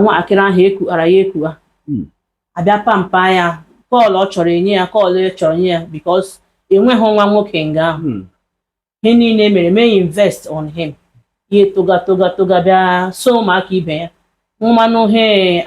nwatakịrị ahụ ekughara ya ekugha hmm. abịa pamper ya kọọlụ ọ chọrọ enye ya kọọlụ ọ chọrọ enye ya because enweghị nwa nwoke nga ahụ hmm. ihe niile mere mee invest on him ya toga toga toga bịa so ụmụaka ibe ya ṅụmanụ he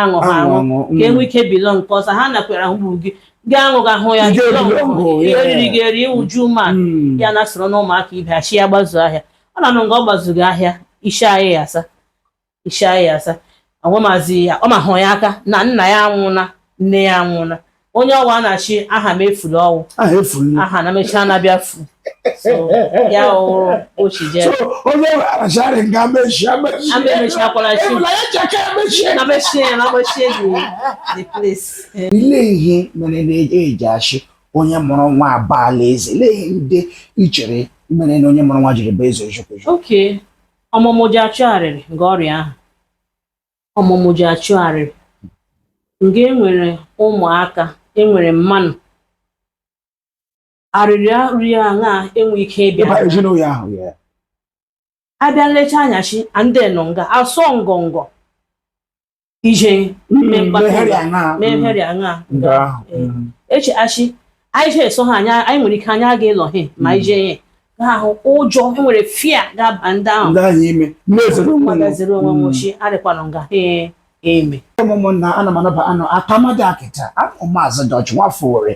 aṅụ ha aṅụ ka enwe ike bilo nke ọzọ ha nakwere ahụ gburu gị gị aṅụ ga hụ ya ihe oriri gị eri uju ma hmm. ya na soro na ụmụaka ibe ha shị ya gbazu ahịa ọ na-anụ nga ọ gbazughị ahịa isi ahịa ya asa ishi ya asa agwamazị ya ọ mahụ ya aka na nna ya anwụna nne ya anwụna onye ọ wụ a na-ashị Ahamefule ọ wụ aha efuru aha na-emechi na-abịa fu so ya ọhụrụ ochi jee so onye arachara nga mechie mechie ama emechikwala chi ebula ya chaka mechie na mechie ya na mechie the the place Eh, ile ihe mere na eji ashị onye mụrụ nwa abaala eze ile ihe ndị i chere mere na onye mụrụ nwa jiri bụ eze eziokwu okay ọmụmụ ji achụ arịrị nga ọ rị ahụ ọmụmụ ji achụ arịrị nga enwere ụmụaka enwere mmanụ arịrị arịrị aṅa enwe ike ịbịa ịba ezinụlọ ahụ ya abịa nlecha anya shị ndị nọ nga asọ ngọngọ ije mmegharị aṅa eche ashị anyị jee eso ha anya anyị nwere ike anya aga ịlọ ha ma anyị jee ya ahụ ụjọ enwere fear ga-aba ndị ahụ magaziri onwe m ochi arịkwanụ nga ee eme ụmụnna ana m anaba ụnụ akamada akịta awụ m Maazị Dutch nwafọ Owere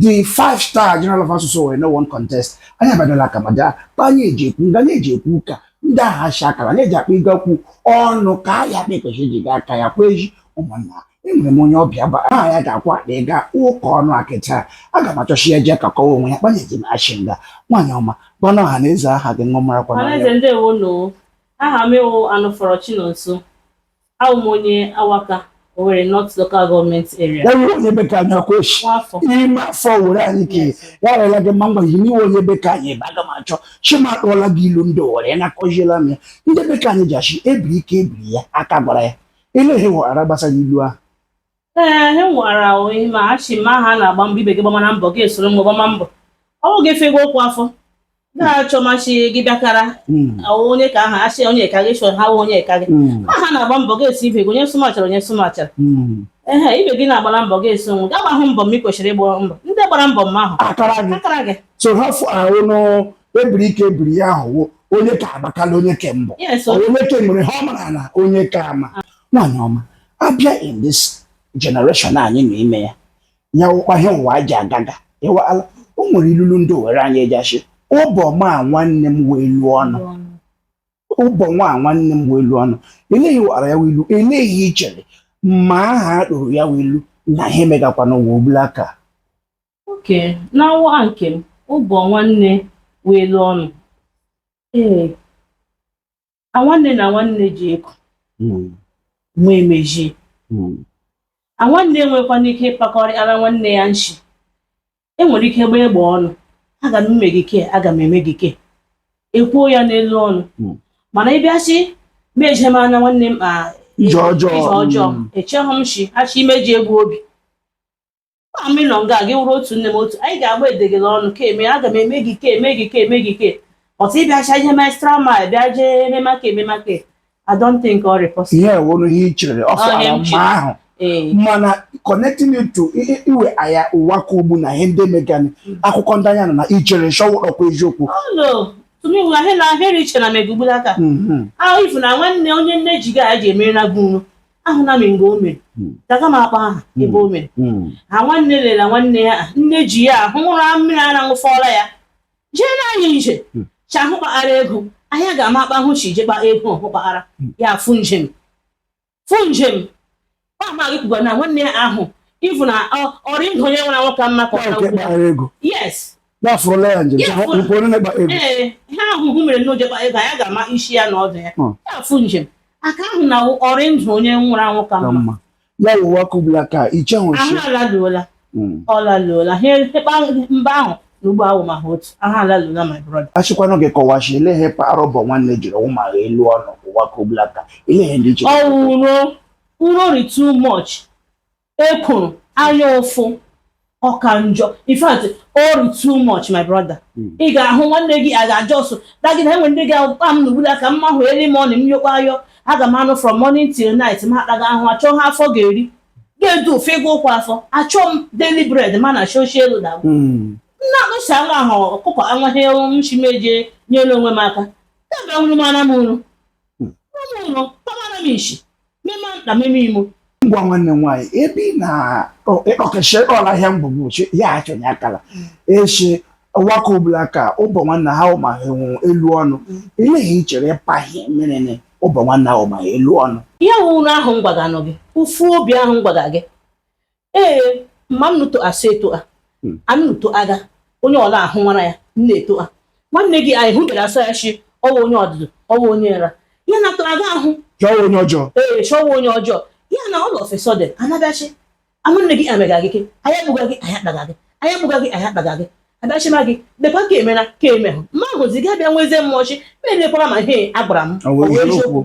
the five star general of asụsụ Owere no one contest anyị abadala akamada anyị eji ekwu nga anyị eji ekwu ụka ndị ahụ ashị akara na-eji akpa ịga kwu ọnụ ka a ya akpa ekpechi ji gaa aka ya kwa eji ụmụnna enwere m onye ọbịa gba aha ya ga-akwa akpa ịga ụka ọnụ akịta aga m achọ shị ya jee kakọwa onwe ya kpanye ji m ashị ngwa nwaanyị ọma gwanụ ọha na eze aha gị ṅụmarakwa na Ọhaneze ndewo nụ aha m wụ Anụfọrọ Chinonso Awụ m onye Awaka, Owerri North Local Government Area. ya wụ onye be ka anyị ọkwa ishi Nwafọ. ime afọ Owere anyị ka Yes. ya rịla gị mma mgbe ihe ị wụ onye be ka anyị ebe aga m achọ shị ma kpọọla gị ilu ndị Owere na-akọziela m ya ndị be ka anyị ji ashị ebiri ka ebiri ya aka gwara ya ile ihe ị wara gbasara ilu ahụ ee he nwara ahụ ihe ma ashị ma ha na-agba mbọ ibe gị gbamana mbọ gị esoro mgbe gbama mbọ ọ bụ gị fego okwu afọ gị achọma shị gị bịakara Mm, ahụ onye ka aha ashị onye ka gị chọrọ ha wụ onye ka gị mm, ma ha na-agba mbọ gị esi ibe gị onye sụmachara onye sụmachara mm. ehe ibe gị na-agbara mbọ gị esi onwe gị agbahụ mbọ m ị kwesịrị ịgba mbọ ndị gbara mbọ mma ahụ akara gị akara gị so ha fụ ahụ nụ ebiri ka ebiri ya ahụwo onye ka agbakala onye ke mbọ yes Ọ onye ke nwere ha ọ mara na onye ka ama nwaanyị ọma a bịa in this generation anyị nọ ime ya ya wụkwa ihe ụwa ji agaga ịwala o nwere ilulu ndị Owere anyị eji ashị ụbọ nwa nwanne m wụ elu ọnụ ụbọ nwa nwanne m wụ elu ọnụ ele ihe wara ya wụ ilu ele ihe i chere ma aha a kpụrụ ya wụ ilu na ihe megakwa n'ụwa ugbulaka oke n'awa nke m ụbọ nwanne wụ elu ọnụ ee na nwanne na nwanne ji ego mm, nwe emeji mm, na nwanne enwekwana ike ịkpakọrị ara nwanne ya nshi e nwere ike gbaa egbe ọnụ aga m eme gị ke aga m eme gị ke e kwuo ya n'elu ọnụ Mm. mana ị bịa shị meje m anya nwanne m a ihe ọjọọ. ihe ọjọọ Mm. echeghị m shị achọ imeji egbu obi amịlọ nga gị wụrụ otu nne m otu anyị ga-agba edegele ọnụ ka eme aga m eme gị ka eme gị ka eme gị ka ọtụ ịbịacha ihe mestra ma bịa jee ememaka ememaka I don't think ọ rị possible ya wụrụ ihe i chere ọ fara mma ahụ mana connecting it to iwe aya ụwa ka ugbu na ihe ndị megani mm. akụkọ ndị anya nọ na i chere shị ọ wụrụkwa eziokwu oh, tumiwula hela heri iche na mega ugbulaka mm-hmm. ahụ ị hụ na nwanne onye nne ji ga ji emere na gị ahụna m mgbe o mere hmm. agaghị m akpa aha hmm. ebe o mere hmm. ha nwanne lela nwanne ya nne ji ya ahụ ṅụrụ mmiri ara ṅụfọla ya jee na anyị nje chi ahụ kpaara ego ahịa ga-ama akpa ahụ shị je kpa ego ọhụ kpaara ya fụ njem fụ njem ọ amaghị kwuga na nwanne ya ahụ ị hụ na ọ rị ndụ onye nwụrụ anwụ ka mma ka ọ na yes ya fụrụla ya njem Ya fụrụ. nke onye na-agba egwu ee ihe ahụhụ mere na o je kpa ego ya ga-ama isi ya na ọdụ ya Hmm. ya afụ njem aka ahụ na ọ rị ndụ onye nwụrụ anwụ ka ka mma mma ya wụ ụwa ka ugbulaka iche ahụ ahụ nso alaluola Mm. ọ laluola ha ekpa mgbe ahụ na ugbu a awụmagha otu ahụ alaluola my brother a shịkwanụ gị kọwa shị ele ihe kpara ụbọ nwanne jiri wụmagha elu ọnụ ụwa ka ugbulaka ele ihe ndị jiri ọ wụ uro uro rị too much ekworo anya ụfụ ọka njọ in fact ọ rị too much my brother hmm. ị ga-ahụ nwanne gị a ga-ajọ ọsụ dagịda enwe ndị ga-akpa m n'ugbulaka mma hụ early morning m yọkwa ayọ aga m anụ from morning till night ma akpaga ahụ achọ ihe afọ ga-eri ga-edu ofe ego ụkwụ afọ achọ m daily bread mana shoshi elu na hmm. nna anụsi anwụ ahụ ọkụkọ anwaghị shị m eje nyere onwe m aka ebe nwụrụ m ana m unu ngwa nwanne nwaanyị ebe ị na-ekpọkechi ịkpọla ahịa mgbugbu ya achọnye akala echi ụwa ka ugbulaka ụbọ nwanne awụmagha elu ọnụ ele ihe i chere ịpaghị merene ụbọ nwanne awụmagha elu ọnụ ya wụ uro ahụ m gwaganụ gị ụfụ obi ahụ m gwaga gị ee mma m nụtụ asụ eto a Hmm. anụ nụtụ aga onye ọla ahụ nwara ya m na-eto a nwanne gị anyị hụbere asụ ya shi ọ wụ onye ọdụdụ ọwa onye nra ya na tụrụ aga ahụ Jụọ onye ọjọọ. ee shi ọ wụ onye ọjọọ ya na all of a sudden anabịachi nwanne gị amega gị ke anyị akpụga gị anyị akpaga gị anyị akpụga gị anyị akpaga gị abịachi ma gị dekwa ka emena ka emehụ mma ahụzi gị abịa nwezie mmụọ shi ma elekwara ma ihe a gwara m Ọ bụ ọ bụ eziokwu. eziokwu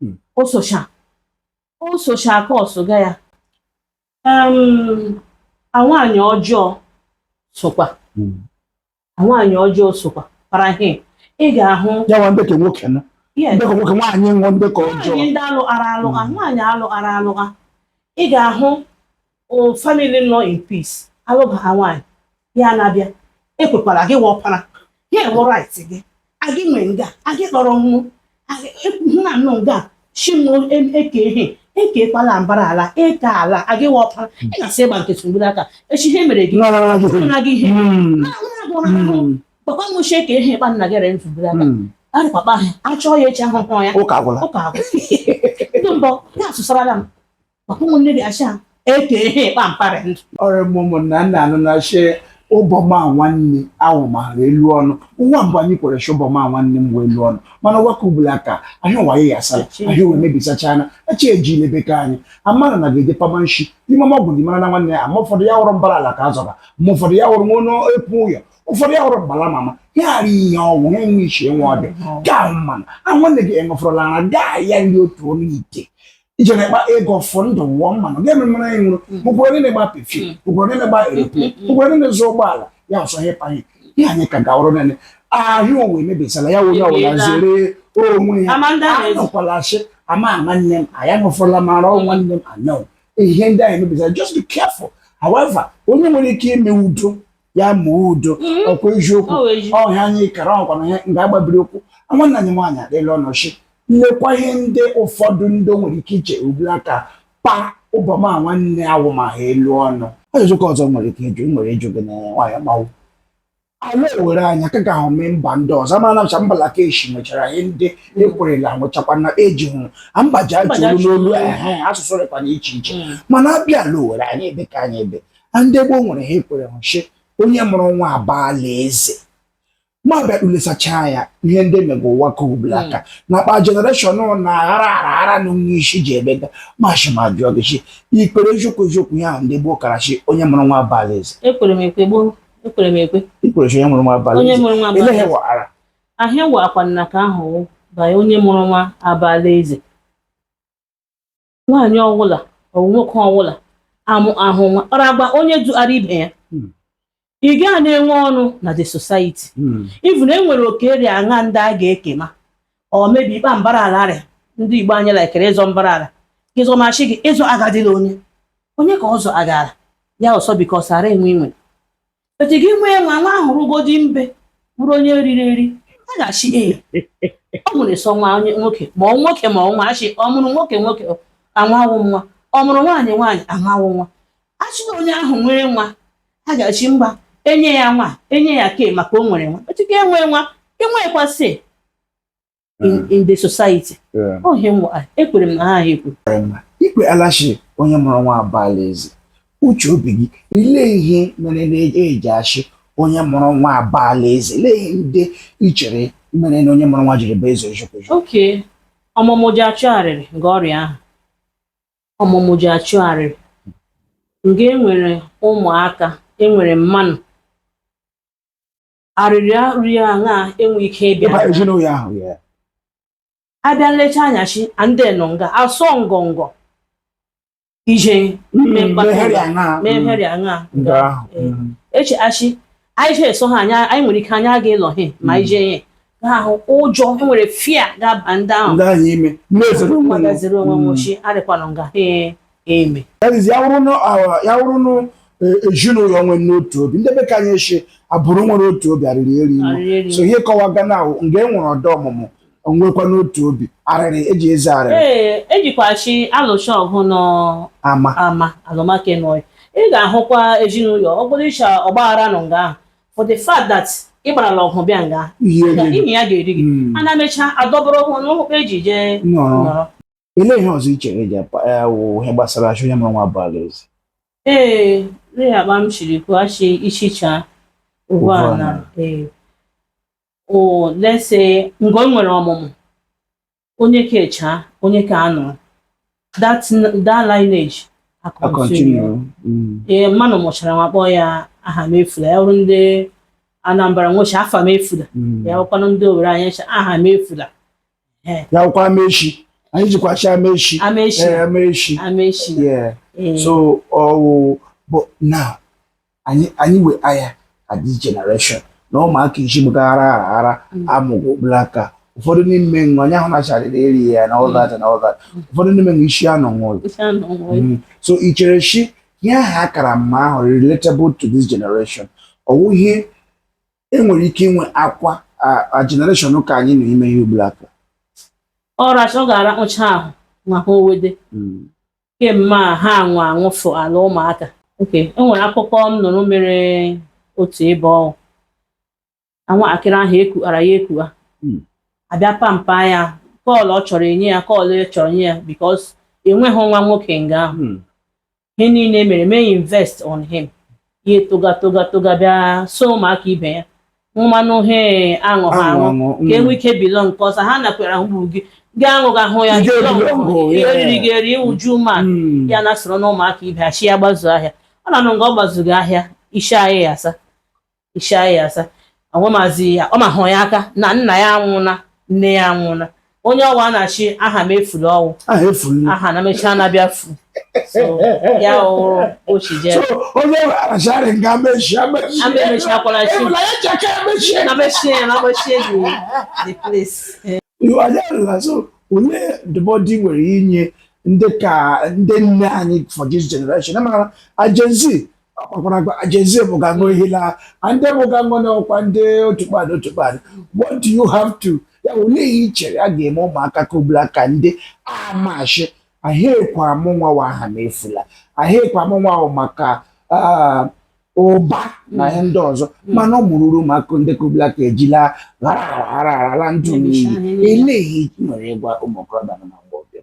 hmm. o socha o socha aka ọsụga ya nwaanyị ọjọọ sokwa hmm. nwaanyị ọjọọ sokwa kpara ihe ị ga-ahụ ya nwa nde ke nwoke na nde ke nwoke nwaanyị wụ nde ke ọjọọ nwaanyị ndị alụghara alụgha hmm. nwaanyị alụghara alụgha ị ga-ahụ o family nọ in peace alụba ha nwaanyị ya na-abịa ekwekwara gị wụ ọpara ya enwe right gị agị nwe nga agị kpọrọ nwụ nna nnụ nga chimụ eke ihe ekekwala mbara ala eke ala agị wụ ọpara ị ga-asị ị gba nkịtị ugbulaka echi ihe mere gị No, no, no, no. na gị ihe Mm. Mm. papa m ochie ka ihe ịkpa nna gị rere ugbulaka Mm. arị papa ha achọọ ya echi ahụhụ ya Ụka agwụla. ụka agwụ ndị mbọ ya asụsarala m Papa ụmụnne gị asha eke ihe ịkpa mparị ndụ. ọrịa m ụmụnna nna anụ na shi ụbọma nwanne ahụ maara elu ọnụ ụwa mbụ anyị kwere shi ụbọma nwanne m wee elu ọnụ mana ụwa ke ugbulaka ahịa ụwa ya yasara ahịa ụwa emebisachana eche eji ilebe ka anyị amara na ga-eje pama nshi n'ime ọma ọgwụ dị mara na nwanne ya ma ụfọdụ ya hụrụ mbara ala ka a zọba ma ụfọdụ ya hụrụ nwa onye epu ụyọ ụfọdụ ya hụrụ mbala mama ya ghara ihe ọnwụ ha enwe iche nwa ọbịa gaa mmanụ a nwanne gị enwefụrụla ara gaa ya nri otu ọnụ ite ị je na-akpa ego fụ ndụ wụọ mmanụ gị ememere anyị nwụrụ ụgwọrọ niile gba pefim ụgwọrọ niile gba eroplin ụgwọrọ niile zụ ụgbọala ya ọsọ ihe panye ihe anyị ka gawụrụ nene ahịa ụwa emebisala ya onye ọbụla zere onwe ya anọkwala asị ama nwanne m anya nụfụla mara nwanne m anọ ihe ndị anyị emebisala just be careful however onye nwere ike ime udo ya mee udo mm-hmm. ọkwa eziokwu ọhịa anyị kara ọkwana ihe nga agbabiri okwu nwanna anyị nwaanyị adịla ọnọchi lekwa ihe ndị ụfọdụ ndị nwere ike iche ugbulaka kpa ụbọma nwanne awụ ma ha elu ọnụ ajụjụ ka ọzọ nwere ike ịjụ nwere ịjụ gị na nwaanyị ma ọ wụ ala Owere anyị ka ga-ahụ mee mba ndị ọzọ amara ncha mba Lakeshi nwechara ihe ndị ekwerela nwechakwa na eji hụrụ mba ji ajụrụ n'olu asụsụ rịkwa na iche iche hmm. mana abịa ala Owere anyị ebe ka anyị ebe ndị gboo nwere ihe ekwere hụ shi onye mụrụ nwa abaala eze ma bịa kpụlesacha anya ihe ndị mega ụwa ke ugbulaka hmm. na akpa jenereshọn na-aghara aghara na onye isi ji ebega m shi m jụọ gị shi i kwere eziokwu eziokwu ya ndị gboo kara shi onye mụrụ nwa abaala eze ekwere m ekwe gboo ekwere m ekwe i kwere shi onye mụrụ nwa abaala eze eleghị wara ahịa wa akwa nna ka ahụ banye onye mụrụ nwa abaala eze nwaanyị ọwụla ọ bụ nwoke ọwụla amụhụ nwa ọ na-agba onye duara ibe ya Hmm. ị gaa na-enwe ọnụ na the society Mm. even e nwere oke ri aṅa ndị a ga-ekema or maybe ikpe mbara ala rịa ndị Igbo anyị laikere ịzọ mbara ala gị zọma shị gị ịzọ agadịla onye onye ka ọzọ agara ya ọsọ because ara enwe inwe Echi gị nwee nwa nwa ahụ rugodi mgbe bụrụ onye riri eri a ga-ashị ee ọ mụrụ sọ nwa onye nwoke ma ọ nwoke ma ọ nwa a shị ọ mụrụ nwoke nwoke anwa wụ nwa ọ mụrụ nwaanyị nwaanyị anwa wụ nwa a shị na onye ahụ nwere nwa a ga-ashị mba e nye ya nwa e nye ya oke maka o nwere nwa echi ga enwe nwa enwekwa say in, Yeah. in the society Yeah. ọ ihe nwa ekwere m na ha ahụ ekwu ikwe a la-ashị onye mụrụ nwa abaala eze uche obi gị olee ihe mere e ji ashị onye mụrụ nwa abaala eze olee ihe ndị i chere mere na onye mụrụ nwa jiri bụ eze ojukwuju okay ọmụmụ ji achụ arịrị nga ọ rị ahụ ọmụmụ ji achụ arịrị nga e nwere ụmụaka e nwere mmanụ arịrị arịrị aṅa enwe ike ịbịa ịba ezinụlọ ahụ ya abịa nlecha anya shị ndị nọ nga asọ ngọngọ ije mme mkpata meghere ya na mehere aṅa nga ahụ Ee. echi a shị anyị je eso ha anya anyị nwere ike anya aga ịlọ he ma anyị jee ihe ahụ ụjọ e nwere fear ga-aba ndị ahụ ndị ahụ ime mmezere onwe m. magaziri onwe m ochi adịkwanụ nga ha eme That is, ya wụrụ na awa- ya wụrụ na eh, ezinụlọ nwere n'otu obi ndị be ka anyị shị abụrụ nwere otu obi arịrị eri iwu Arịrị eri so ihe kọwa gana ahụ nga e nwere ọdọ ọmụmụ onwekwa n'otu obi arịrị eji eze arịrị ee e jikwa shị a lụcha ọgụ n'ama ama a lụma nke ụnọ ị ga-ahụkwa ezinụlọ ọ bụrụ ishi ọgbaghara nọ nga ahụ for the fact that ị gbarala ọgụ bịa nga ihe na gị imi ya ga-eri gị Mm. a na-emecha adọbụrụ ụkwụ n'ụkwụ eji jee nọrọ nọrọ olee ihe ọzọ i chere eji apa ya wụ ihe gbasara a shị onye mụrụ nwa abaala eze ee nri akpa m shiri kwuo a shị ichicha ugbu a Ugbu na a. ee o lese nga e nwere ọmụmụ onye ke a chaa onye ke a anọ that that lineage a continue mm. ee mmanụ mụchara nwa kpọọ ya aha m efula ya wụrụ ndị Anambra nwa shị afa m efula mm. ya wụkwanụ ndị Owerri anyị a shị aha m efula ya wụkwa Amaechi anyị jikwa shị Amaechi Amaechi Amaechi Amaechi so ọwụ bụ na anyị anyị we aya at this generation na ụmụaka isi gbaghara ara ara mm. amụga ugbulaka ụfọdụ n'ime nwa onye ahụ nacharịrị eri ya na all that na all that mm. ụfọdụ n'ime nwa isi anọ nwụrụ mm. so i chere shi ihe ahụ akara mma ahụ relatable to this generation ọwụ ihe enwere ike inwe akwa a generation ka anyị na ime ihe ugbulaka ọracha ọ ga-arakpụcha ahụ ma ha owede kemgbe a ha anwụ anwụfụ ala ụmụaka oke e nwere akụkọ m nụrụ mere otu ebe ọwụ anwa akịrị ahụ ekuara ya ekua hmm. abịa pamper ya kọọla ọ chọrọ enye ya kọọla ọ chọrọ nye ya because enweghị nwa nwoke nga ahụ hmm. ihe niile e mere mee invest on him ya etoga toga toga bịa so ụmụaka ibe ya mmanụ he aṅụ ha Aṅụ, aṅụ aṅụ, ka mm. enwe ike belong nke ọzọ ha nakwere ahụ gị gị aṅụ gị ahụ ya Ị belong ga-ebelong nke ngụ, gị, ya yeah. eriri gị eri uju ma Mm. ya na soro na ụmụaka ibe ha chi ya gbazu ahịa ọ na-anụ nga ọ gbazughị ahịa isi anyị ya asa isi anyị ya asa agwamazi ya ọ mahụ ya aka na nna ya anwụna nne ya anwụna onye ọwa na-achị aha m efuru ọwụ aha efuru aha na mechaa na-abịa fu ya ochi jee onye arachara nga mechie mechiakwala chi na mechie na mechie the place olee ndụmọdụ nwere inye ndị ka ndị nne anyị for this generation amara a Gen Z ọkpọkwara gwa a Gen Z bụ ga ṅụ ihe laa a ndị bụ ga ṅụ n'ọkwa ndị otu kpadụ otu kpadụ what do you have to ya bụ olee ihe i chere a ga-eme ụmụaka ka ugbulaka ndị amashi ahịa ekwe amụ nwa wa aha m efula ahịa ekwe amụ nwa ahụ maka ah, ụba na ihe ndị ọzọ mana ọ mụrụrụ ụmụaka ndị ka ugbulaka ejila ghara ghara ghara ghara ndụ Emecha n'iyi ihe niile. elee ihe i nwere ịgwa ụmụ okorobịa na ụmụ agbọghọbịa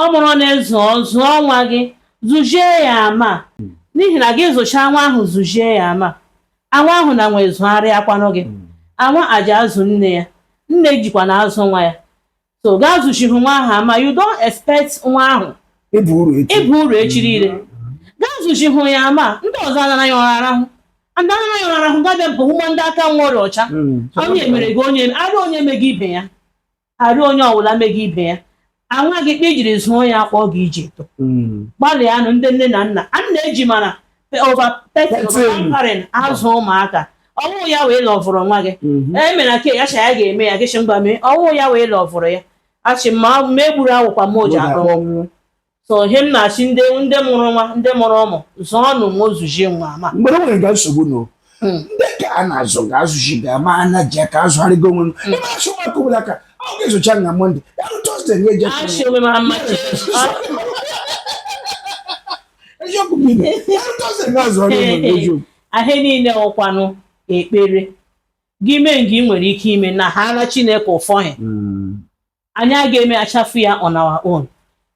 ọ mụrụ na-ezu zụọ nwa gị zụzie ya ama hmm. n'ihi na gị zụchaa nwa ahụ zụzie ya ama anwa ahụ na nwa azụgharịakwanụ gị hmm. anwa ji azụ nne ya nne jikwa na azụ nwa ya so gaa zụzighị nwa ahụ ama you don't expect nwa ahụ ịbụ uru echi niile hmm. gaa zụzighị ya ama ndị ọzọ anara ya ọrara ahụ ndị anara ya ọrara ahụ gabịa bụ ụmụ ndị aka nwa ọrịa ọcha onye mere gị onye arị onye me gị ibe ya arị onye ọbụla megị ibe ya anwa gị kpa i jiri zụọ ya a kpa ọ ga-eji eto Mm. gbalịanụ ndị nne na nna a na-eji mana over pampering azụ ụmụaka ọwụ ya wa ị lọvụrụ nwa gị Mhm. e mere ka ya cha ya ga-eme ya gị chị ngwa mee ọwụ ya wa ị lọvụrụ ya achị ma ma egburu awụkwa m oji akpọ Ụlọ akwụkwọ. so ihe m na-asị ndị ndị mụrụ nwa ndị mụrụ ụmụ zụọ nụ nwa ọzụzụ nwa ma mgbe nwere ga nsogbu na hmm. ndị ka a na-azụ ga azụji ga ma a na-eji aka azụgharịgo onwe hmm. ebe achị nwa ọbụla ka ọ ga-ezocha na mọnde ya rụ tọzdee nye eji achị onwe ma mma eziokwu bụ ibe ya rụ tọzdee ga azụ ọrụ onwe eziokwu ihe niile ọkwanụ ekpere gị mee nke ị nwere ike ime na haara Chineke ụfọghị hmm. anyị aga-emechafu ya on our own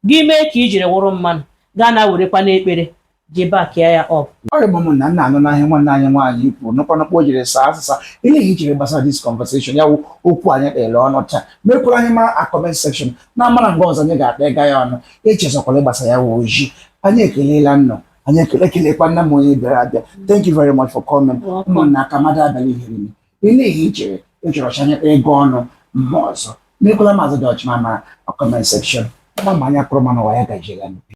gị mee ka i jiri wụrụ mmadụ gaa na werekwa n'ekpere ji bakia ya up ọrịa bụ m na nna anụna ihe a nwanne anyị nwaanyị kwuru n'ọkwa n'ọkwa o jiri saa asịsa olee ihe i chere gbasara this conversation ya wụ okwu anyị kpara ọnụ taa mekwara anyị mara na comment section na amara mgbe ọzọ anyị ga-akpa ụka ya ọnụ echezọkwala ịgbasa ya wụ ozi anyị ekelela unu anyị ekele kelekwa nna m onye bịara abịa thank you very much for coming ụmụnna aka mmadụ abalị ihere Olee ihe i chere ị chọrọ ka anyị kpaa ụka ọnụ mgbe ọzọ? Mekwala Maazị Dutchman mara na kọment sekshọn. Ama m anya kụrụ ma n'ụwa ya gaziela.